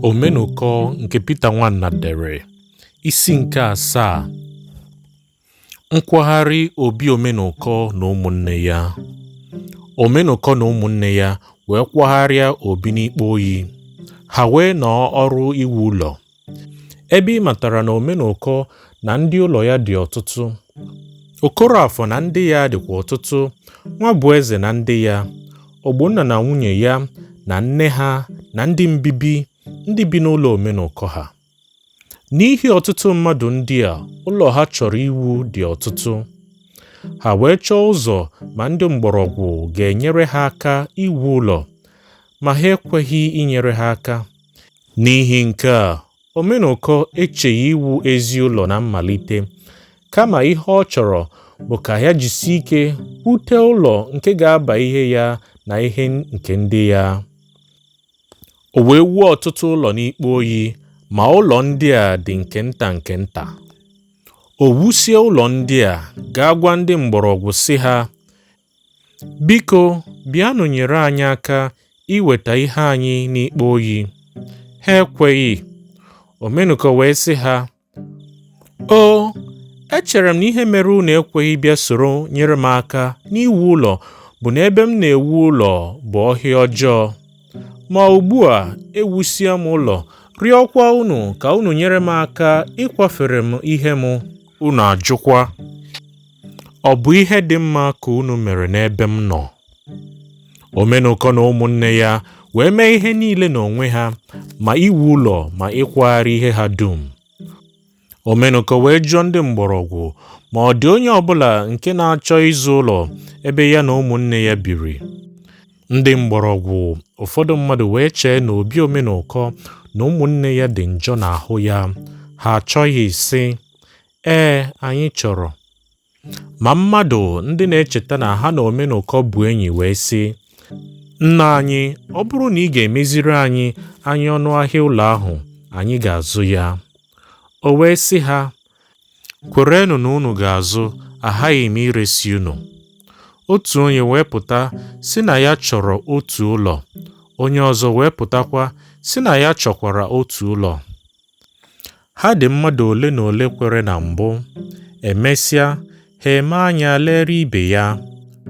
Omenụkọ nke Pita Nwana dere isi nke asaa nkwagharị obi Omenụkọ na ụmụnne ya Omenụkọ na ụmụnne ya wee kwagharịa obi n'Ikpa Oyi ha wee nọọ ọrụ iwu ụlọ Ebe ị matara na Omenụkọ na ndị ụlọ ya dị ọtụtụ, Okoroafọ na ndị ya dịkwa ọtụtụ, Nwabueze na ndị ya, Ogbonna na nwunye ya na nne ha na ndị mbibi ndị bi n'ụlọ Omenụkọ ha. N'ihi ọtụtụ mmadụ ndị a ụlọ ha chọrọ iwu dị ọtụtụ, ha wee chọọ ụzọ ma ndị Mgbọrọgwụ ga-enyere ha aka iwu ụlọ, ma ha ekweghị inyere ha aka. N'ihi nke a, Omenụkọ echeghị iwu ezi ụlọ na mmalite, kama ihe ọ chọrọ bụ ka ya jisie ike wute ụlọ nke ga-aba ihe ya na ihe nke ndị ya. O wee wuo ọtụtụ ụlọ n'Ikpa Oyi, ma ụlọ ndị a dị nke nta nke nta. O wusie ụlọ ndị a, gaa gwa ndị Mgbọrọgwụ sị ha, Biko, bịanụ nyere anyị aka iweta ihe anyị n'Ikpa Oyi. Ha ekweghị. Omenụkọ wee sị ha, O, echere m na ihe mere unu ekweghị bịa soro nyere m aka n'iwu ụlọ bụ na ebe m na-ewu ụlọ bụ ọhịa ọjọọ. Ma ugbu a ewusie m ụlọ, rịọkwa unu ka unu nyere m aka ịkwafere m ihe m, unu ajụkwa. Ọ bụ ihe dị mma ka unu mere n'ebe m nọ. Omenụkọ na ụmụnne ya wee mee ihe niile n'onwe ha, ma iwu ụlọ ma ịkwagharị ihe ha dum. Omenụkọ wee jụọ ndị Mgbọrọgwụ ma ọ dị onye ọbụla nke na-achọ ịzụ ụlọ ebe ya na ụmụnne ya biri Ndị Mgbọrọgwụ. Ụfọdụ mmadụ wee chee na obi Omenụkọ na ụmụnne ya dị njọ n'ahụ ya, ha achọghị sị, Ee, anyị chọrọ. Ma mmadụ ndị na-echeta na ha na Omenụkọ bụ enyi wee sị, Nna anyị, ọ bụrụ na ị ga-emeziri anyị anya ọnụ ahịa ụlọ ahụ, anyị ga-azụ ya. O wee sị ha, Kwerenụ na unu ga-azụ, aghaghị m iresi unu. Otu onye wee pụta sị na ya chọrọ otu ụlọ, onye ọzọ wee pụtakwa sị na ya chọkwara otu ụlọ. Ha dị mmadụ ole na ole kwere na mbụ, emesịa ha eme anya lere ibe ya,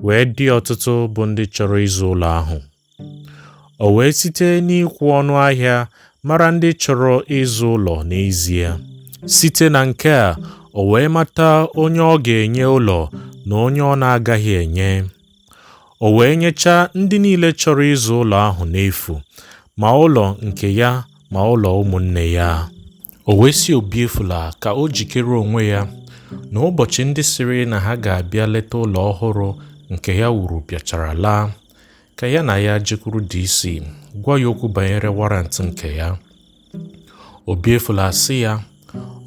wee dị ọtụtụ bụ ndị chọrọ ịzụ ụlọ ahụ. O wee site n'ikwu ọnụ ahịa mara ndị chọrọ ịzụ ụlọ n'ezie. Site na nke a, o wee mata onye ọ ga-enye ụlọ na onye ọ na-agaghị enye. O wee nyechaa ndị niile chọrọ ịzụ ụlọ ahụ n'efu, ma ụlọ nke ya ma ụlọ ụmụnne ya. O wee sị Obiefula ka o jikere onwe ya na ụbọchị ndị sịrị na ha ga-abịa leta ụlọ ọhụrụ nke ya wuru bịachara laa, ka ya na ya jekwuru DC gwa ya okwu banyere warrant nke ya. Obiefula asị ya,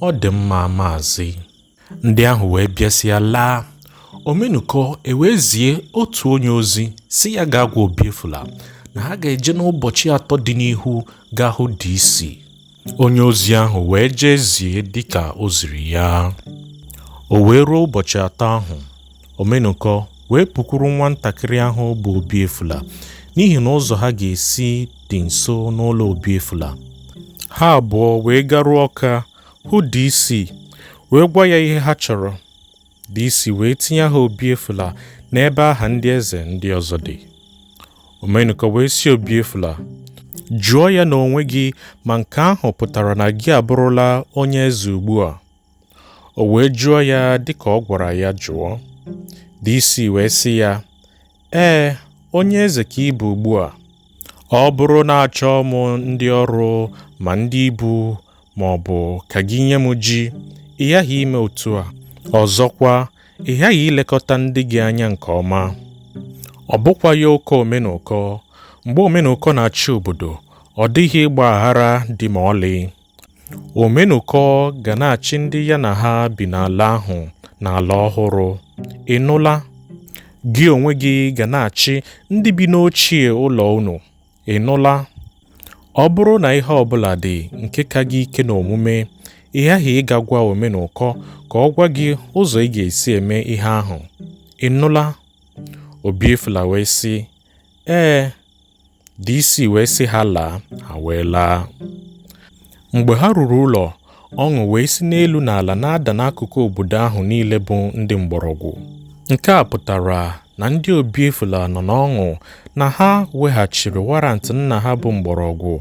Ọ dị mma, Maazị. Ndị ahụ wee bịasịa laa. Omenụkọ ewee zie otu onye ozi sị ya gaa gwa Obiefula na ha ga-eje n'ụbọchị atọ dị n'ihu gaa hụ DC. Onye ozi ahụ wee jee zie dịka o ziri ya. O wee ruo ụbọchị atọ ahụ, Omenụkọ wee pụkwuru nwantakịrị ahụ bụ Obiefula n'ihi na ụzọ ha ga-esi dị nso n'ụlọ Obiefula. Ha abụọ wee garuo Ọka hụ DC wee gwa ya ihe ha chọrọ. DC wee tinye aha Obiefula n'ebe aha ndị eze ndị ọzọ dị. Omenụkọ wee sị Obiefula, Jụọ ya n'onwe gị ma nke ahụ pụtara na gị abụrụla onye eze ugbu a. O wee jụọ ya dịka ọ gwara ya jụọ. DC wee sị ya, Ee, onye eze ka ị bụ ugbu a. Ọ bụrụ na achọọ m ndị ọrụ ma ndị ibu ma ọ bụ ka gị nye m ji, ị ghaghị ime otu a. Ọzọkwa, ị ghaghị ilekọta ndị gị anya nke ọma. Ọ bụkwa ya oke Omenụkọ. Mgbe Omenụkọ na-achị obodo, ọ dịghị ịgba aghara dị ma ọlị. Omenụkọ ga na-achị ndị ya na ha bi n'ala ahụ n'ala ọhụrụ. Ị nụla? Gị onwe gị ga na-achị ndị bi n'ochie ụlọ unu. Ị nụla? Ọ bụrụ na ihe ọ bụla dị nke ka gị ike n'omume, ị ghaghị ịga gwa Omenụkọ ka ọ gwa gị ụzọ ị ga-esi eme ihe ahụ. Ị nụla? Obiefula wee sị, Ee. DC wee sị ha laa, ha wee laa. Mgbe ha ruru ụlọ, ọṅụ wee si n'elu na ala na-ada n'akụkụ obodo ahụ niile bụ ndị Mgbọrọgwụ. Nke a pụtara na ndị Obiefula nọ n'ọṅụ na ha weghachiri warrant nna ha bụ Mgbọrọgwụ.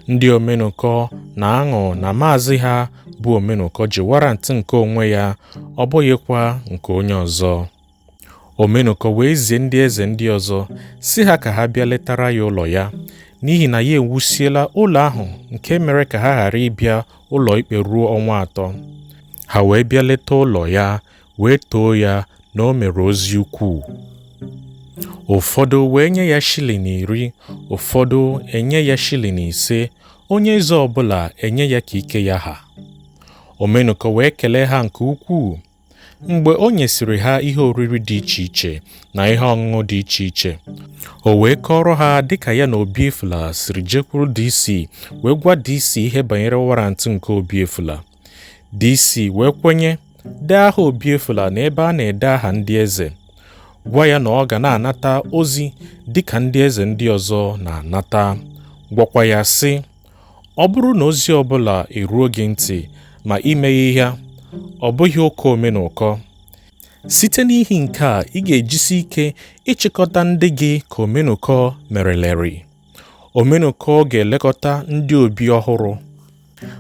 Ndị Omenụkọ na-aṅụ na maazị ha bụ Omenụkọ ji warrant nke onwe ya, ọ bụghịkwa nke onye ọzọ. Omenụkọ wee zie ndị eze ndị ọzọ sị ha ka ha bịa letara ya ụlọ ya n'ihi na ya ewusiela ụlọ ahụ nke mere ka ha ghara ịbịa ụlọ ikpe ruo ọnwa atọ ha wee bịa leta ụlọ ya wee too ya na o mere ozi ukwuu ụfọdụ wee nye ya shilling iri ụfọdụ enye ya shilling ise onye eze ọbụla enye ya ka ike ya ha Omenụkọ wee kelee ha nke ukwuu mgbe o nyesịrị ha ihe oriri dị iche iche na ihe ọṅụṅụ dị iche iche o wee kọọrọ ha dịka ya na obiefula siri jekwuru DC wee gwa DC ihe banyere warantị nke obiefula DC wee kwenye dee aha obiefula na ebe a na-ede aha ndị eze gwa ya na ọ ga na-anata ozi dịka ndị eze ndị ọzọ na-anata gwakwa ya sị Ọ bụrụ na ozi ọ bụla eruo gị ntị ma i meghị ya, ọ bụghị ụka omenụkọ. Site n'ihi nke a, ị ga-ejisi ike ịchịkọta ndị gị ka omenụkọ mereleri. Omenụkọ ga-elekọta ndị obi ọhụrụ.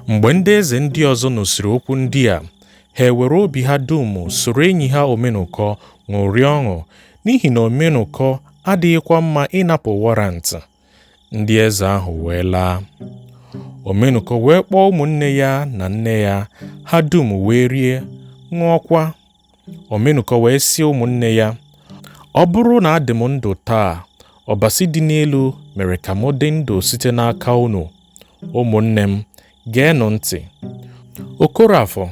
Mgbe ndị eze ndị ọzọ nụsịrị okwu ndị a, ha ewere obi ha dum soro enyi ha omenụkọ ṅụrịa ọṅụ, n'ihi na omenụkọ adịghịkwa mma ịnapụ warrant. ndị eze ahụ wee laa omenụkọ wee kpọọ ụmụnne ya na nne ya ha dum wee rie ṅụọkwa omenụkọ wee sị ụmụnne ya ọ bụrụ na adị m ndụ taa ọbasi dị n'elu mere ka m dị ndụ site n'aka unu ụmụnne m geenụ ntị okorafor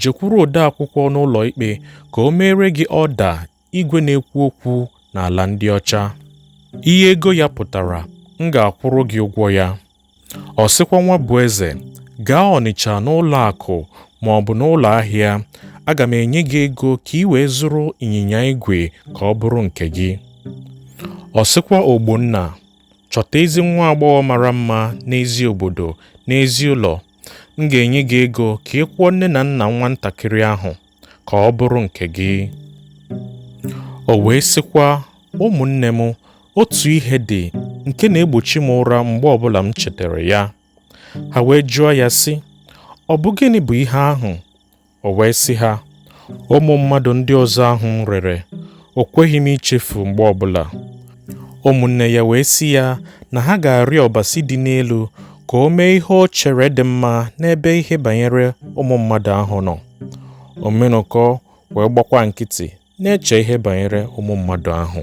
jekwuru odeakwụkwọ n'ụlọ ikpe ka o meere gị ọda igwe na-ekwu okwu n'ala ndị ọcha. Ihe ego ya pụtara, m ga-akwụrụ gị ụgwọ ya. Ọ sịkwa Nwabueze, gaa Ọnịcha n'ụlọ akụ ma ọ bụ n'ụlọ ahịa, aga m enye gị ego ka i wee zụrụ ịnyịnya igwe ka ọ bụrụ nke gị. Ọ sịkwa Ogbonna, chọta ezi nwa agbọghọ mara mma n'ezi obodo, n'ezi ụlọ, m ga-enye gị ego ka ị kwụọ nne na nna nwa ntakịrị ahụ. ka ọ bụrụ nke gị o wee sịkwa ụmụnne m otu ihe dị nke na-egbochi m ụra mgbe ọbụla m chetara ya ha wee jụọ ya sị ọ bụ gịnị bụ ihe ahụ o wee sị ha ụmụ mmadụ ndị ọzọ ahụ m rere o kweghị m ichefu mgbe ọbụla ụmụnne ya wee sị ya na ha ga-arịọ ọbasi dị n'elu ka o mee ihe o chere dị mma n'ebe ihe banyere ụmụ mmadụ ahụ nọ Omenụkọ wee gbakwa nkịtị na-eche ihe banyere ụmụ mmadụ ahụ.